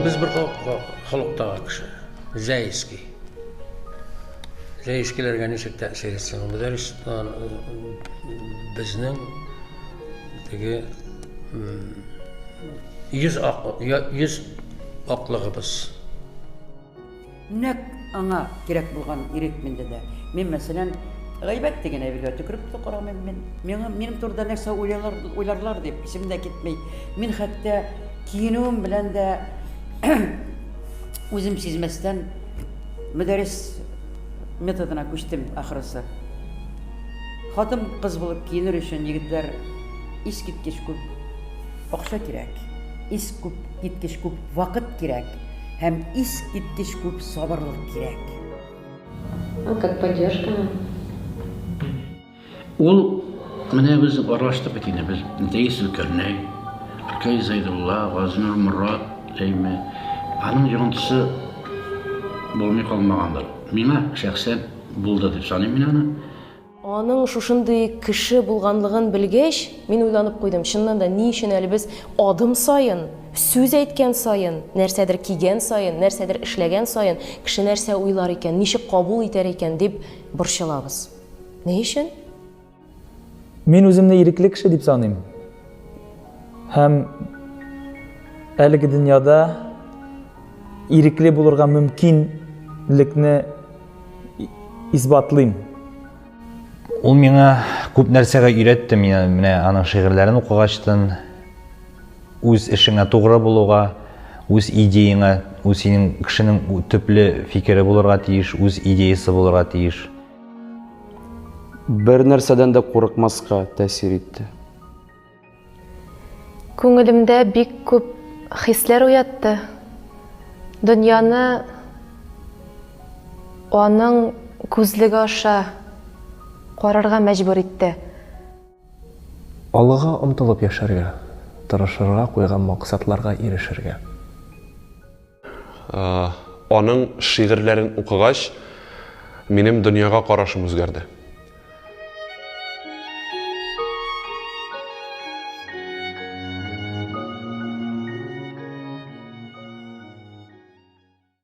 Без бер халыкта кеше. Зәйский. Зәйскиләргә ничек тәэсир итсен? Мөдәррис безнең теге йөз ак йөз аклыгыбыз. Нәкъ аңа кирәк булган ирек миндә дә. Мин, мәсәлән, гайбәт дигән әйбергә төкереп тә карамыйм. Мин, миңа, минем турыда нәрсә уйлыйлар, уйларлар дип, исем дә китми. Мин хәтта киенүем белән дә үзем сизмәстән мөдәррис методына күчтем, ахрысы. Хатын кыз булып киенер өчен егетләр искиткеч күп акча кирәк, искиткеч күп вакыт кирәк. һәм искиткеч күп сабырлык кирәк. А как поддержка? Ул менә без аралаштык бит инде, без Дәйс Зөлкәрнәй, Ркай Зайдулла, Газнур Морат, әйме, аның йогынтысы булмый калмагандыр. Миңа шәхсән булды дип саныйм мин аны. Аның шушындый кеше булганлыгын белгәч, мин уйланып куйдым, чыннан да, ни өчен әле без адым саен, сүз әйткән саен, нәрсәдер кигән саен, нәрсәдер эшләгән саен, кеше нәрсә уйлар икән, ничек кабул итәр икән, дип борчылабыз? Ни өчен? Мин үземне ирекле кеше дип саныйм. Һәм әлеге дөньяда ирекле булырга мөмкинлекне исбатлыйм. Ул миңа күп нәрсәгә өйрәтте, миңа менә аның шигырьләрен укыгачтын үз эшеңә тугры булуга, үз идеяңа, үз синең кешенең төпле фикере булырга тиеш, үз идеясы булырга тиеш. Бер нәрсәдән дә курыкмаска тәэсир итте. Күңелемдә бик күп хисләр уятты. Дөньяны аның күзлеге аша карарга мәҗбүр итте. Алыга омтылып яшәргә, тырышырга, куйган максатларга ирешергә. Аның шигырьләрен укыгач, минем дөньяга карашым үзгәрде.